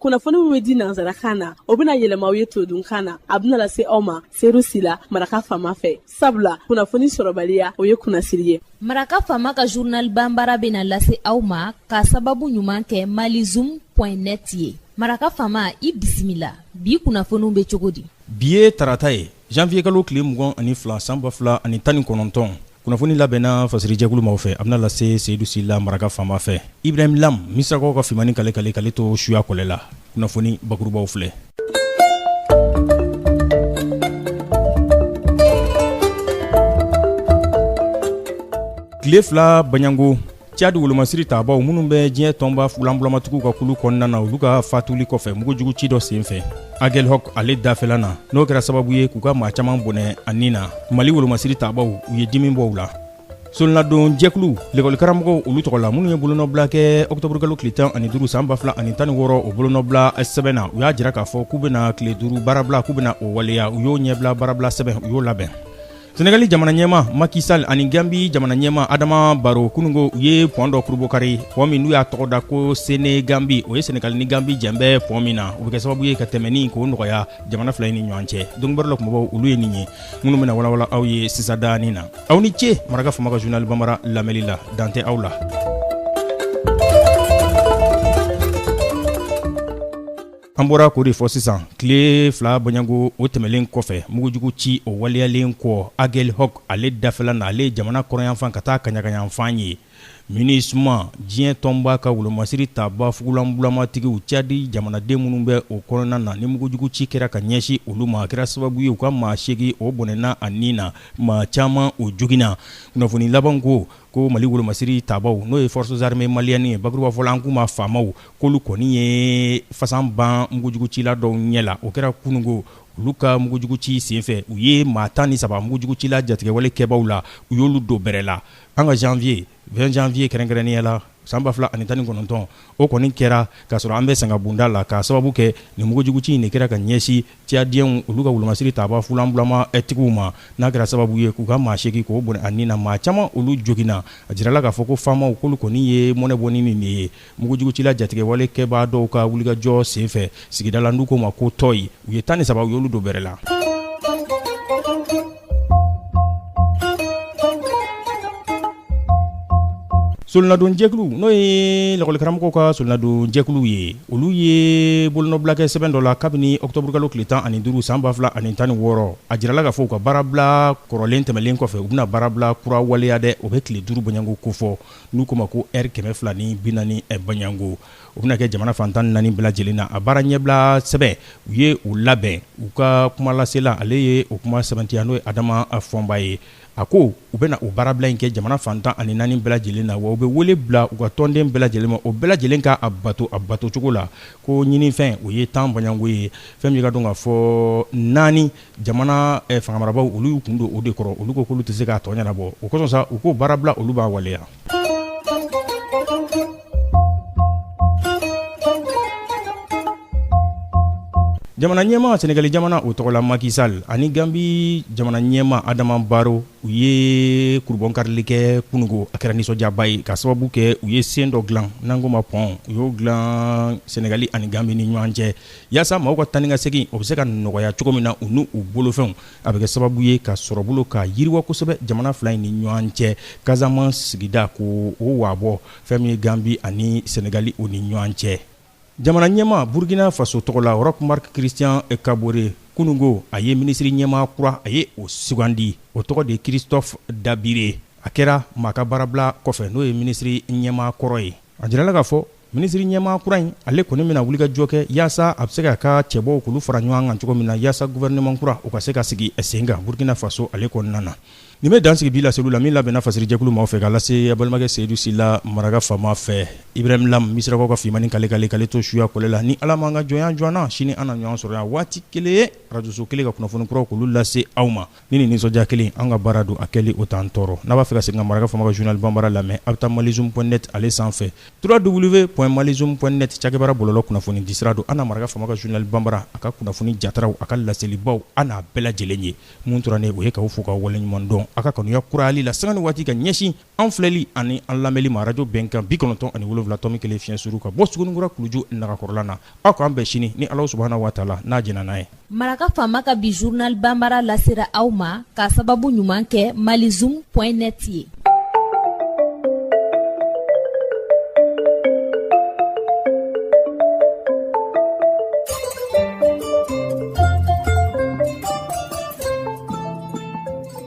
kunnafoni min bɛ di nansarakan na o bɛna yɛlɛma aw ye todunkan na a bɛna lase aw ma seyidu sila maraka faama fɛ sabula kunnafoni sɔrɔbaliya o ye kunnasiri ye maraka faama ka zurnal banbara bɛna lase aw ma ka sababu ɲuman kɛ malizum net ye maraka faama i bisimila bi kunnafoniw bɛ cogo di bi ye tarata ye janvier kalo tile mugan ani fila san ba fila ani tan ni kɔnɔntɔn kunnafoni labɛnna fasirijɛkulu maaw fɛ a bɛna lase seyidu sila maraka faama fɛ ibrahim lam misirakaw ka fimani kale kale k'ale to suya kɔlɛ la kunnafoni bakurubaw filɛ tile fila baɲango cadi wolomasiri tabaaw minnu bɛ diɲɛ tɔnba fulanbulamatigiw ka kulu kɔnɔna na olu ka fatuli kɔfɛ mugujugu ci dɔ senfɛ agel hɔk ale dafɛla na n'o kɛra sababu ye k'u ka maa caman bɔnɛ a ni na mali wolomasiri tabaaw u ye dimi bɔ u la solonadon jɛkulu lekɔlikaramɔgɔw olu tɔgɔ la minnu ye bolonɔbila kɛ ɔkutɔburukalo tile tan ani duuru san ba fila ani tan ni wɔɔrɔ o bolonɔbila sɛbɛn na u y'a jira k'a fɔ k'u bɛna tile duuru baarabila k'u bɛna o waleya u y'o ɲɛbila baarabila sɛbɛn u y'o labɛn sɛnɛgali jamana ɲɛmaa maki sal ani ganbi jamana ɲɛmaa adama baro kunungo u ye pɔn dɔ kurubokari pɔn min n'u y'a tɔgɔ da ko seneganbi o ye sɛnɛgali ni ganbi jɛlen bɛ pɔn min na o bɛ kɛ sababu ye ka tɛmɛni k'o nɔgɔya jamana fila ni ɲɔgɔn cɛ donc baro la kumabaw olu ye nin ye minnu bɛna walawala aw ye sisan danin na aw ni ce maraka faama ka zurnali banbara lamɛli la dan tɛ aw la An bɔra k'o de fɔ sisan tile fila baɲango o tɛmɛlen kɔfɛ mugujugu ci o waleyalen kɔ Agɛlhɔk ale dafɛla na ale ye jamana kɔrɔnyanfan ka taa kaɲagayanfan ye Minusma diɲɛ tɔnba ka wolomasiri tabaa fugulan bulamatigiw Cadi jamanaden minnu bɛ o kɔnɔna na ni mugujugu ci kɛra ka ɲɛsin olu ma a kɛra sababu ye u ka maa seegin o bɔnɛna a ni na maa caman o joginna kunnafoni laban ko ko mali wolomasiri tabaaw n'o ye forces armées maliennes ye bakurubafɔla an k'u ma famaw k'olu kɔni ye fasan ban mugujugucila dɔw ɲɛ la o kɛra kunungo olu ka mugujuguci senfɛ u ye maa tan ni saba mugujugucila jatigɛwale kɛbaaw la u y'olu don bɛrɛ la an ka janvier 20 janvier kɛrɛnkɛrɛnnenya la san ba fila ani tan ni kɔnɔntɔn o kɔni kɛra k'a sɔrɔ an bɛ sangabonda la k'a sababu kɛ nin mugujuguci in de kɛra ka ɲɛsin Cadiyɛnw olu ka wolomasiri tabaa fulanbulama tigiw ma n'a kɛra sababu ye k'u ka maa seegin k'o bɔnɛ a ni na maa caman olu joginna a jirala k'a fɔ ko famaw k'olu kɔni ye mɔnɛ bɔ ni nin de ye mugujugucila jatigɛwale kɛbaa dɔw ka wulikajɔ senfɛ sigida la n'u k'o ma ko Tɔyi u ye tan ni saba u y'olu don bɛrɛ la Solonadon jɛkulu n'o ye lakɔlikaramɔgɔw ka solonadon jɛkulu ye olu ye bolonɔbila kɛ sɛbɛn dɔ la kabini ɔkutɔburukalo tile tan ani duuru san ba fila ani tan ni wɔɔrɔ a jirala k'a fɔ u ka baarabila kɔrɔlen tɛmɛlen kɔfɛ u bɛna baarabila kura waleya dɛ o bɛ tile duuru baɲango kofɔ n'u k'o ma ko ɛri kɛmɛ fila ni bi naani baɲango O bɛna kɛ jamana fan tan naani bɛɛ lajɛlen na a baara ɲɛbila sɛbɛn u ye u labɛn u ka kumalasela ale ye o kuma sɛbɛntiya n'o ye Adama Fɔnba ye a ko u bɛna o baarabila in kɛ jamana fan tan ani naani bɛɛ lajɛlen na wa u bɛ wele bila u ka tɔnden bɛɛ lajɛlen ma o bɛɛ lajɛlen ka a bato a batocogo la ko ɲinifɛn o ye tan bɔɲɔgɔngo ye fɛn min ye k'a dɔn k'a fɔ naani Jamana fangamarabaw olu y'u kun don o de kɔrɔ olu ko k'olu tɛ se k'a tɔ ɲɛnabɔ o kosɔn sa u ko baarabila olu b'a waleya jamana ɲɛma sɛnɛgali jamana o tɔgɔ la Macky Sall ani ganbi jamana ɲɛma Adama Barrow u ye kurubɔnkarili kɛ kununko a kɛra nisɔndiyaba ye ka sababu kɛ u ye sen dɔ dilan n'an k'o ma pɔn u y'o dilan sɛnɛgali ani ganbi ni ɲɔgɔn cɛ Yaasa maaw ka taa ni ka segin o bɛ se ka nɔgɔya cogo min na u n'u bolofɛnw a bɛ kɛ sababu ye ka sɔrɔbolo ka yiriwa kosɛbɛ jamana fila in ni ɲɔgɔn cɛ Casamance sigida ko o wabɔ fɛn min ye ganbi ani sɛnɛgali o ni ɲɔgɔn cɛ jamana ɲɛma burukina faso tɔgɔ la Roch Marc Christian Kabore kununko a ye minisiri ɲɛma kura a ye o sugandi o tɔgɔ de Christophe Dabire a kɛra maa ka baarabila kɔfɛ n'o ye minisiri ɲɛma kɔrɔ ye a jirala k'a fɔ Minisiri ɲɛmaa kura in, ale kɔni bɛna wulikajɔ kɛ yaasa a bɛ se k'a ka cɛbɔw k'olu fara ɲɔgɔn kan cogo min na yaasa gouvernement kura o ka se ka sigi sen kan Burkina Faso ale kɔnɔna na. Nin bɛ dan sigi bi laseliw la min labɛnna fasirijɛkulu maaw fɛ k'a lase a balimakɛ Seyidu Sila maraka faama fɛ. Ibrahim Lam, Misirakaw ka fimani kale kale k'ale to suya kɔlɛ la. Ni Ala ma an ka jɔnya jɔ an na, sini an na ɲɔgɔn sɔrɔ yan waati kelen ye, arajoso kelen ka kunnafoni kuraw k'olu lase aw ma. Ni nin nisɔndiya kelen an ka baara don a kɛli o t'an tɔɔrɔ n'a b'a fɛ ka segin ka maraka faama ka journal banbara lamɛn aw bɛ taa malizoom point net ale sanfɛ trois w point malizoom point net cakɛbara bɔlɔlɔ kunnafoni disira don an na maraka faama ka journal banbara a ka kunnafoni jataraw a ka laselibaw an n'a bɛɛ lajɛlen ye mun tora ne o ye k'aw fo k'aw waleɲumandɔn a ka kanuya kurayali la sanga ni waati ka ɲɛsin An filɛli ani an lamɛnli ma radio bɛnkan 97.1 fiɲɛ suru ka bɔ Suguninkura kuluju nagakɔrɔla na, aw k'an bɛn sini ni Alahu subahana wa taala n'a jɛnna n'a ye. Maraka faama ka bi journal banbara lasera aw ma k'a sababu ɲuman kɛ malizoom point net ye.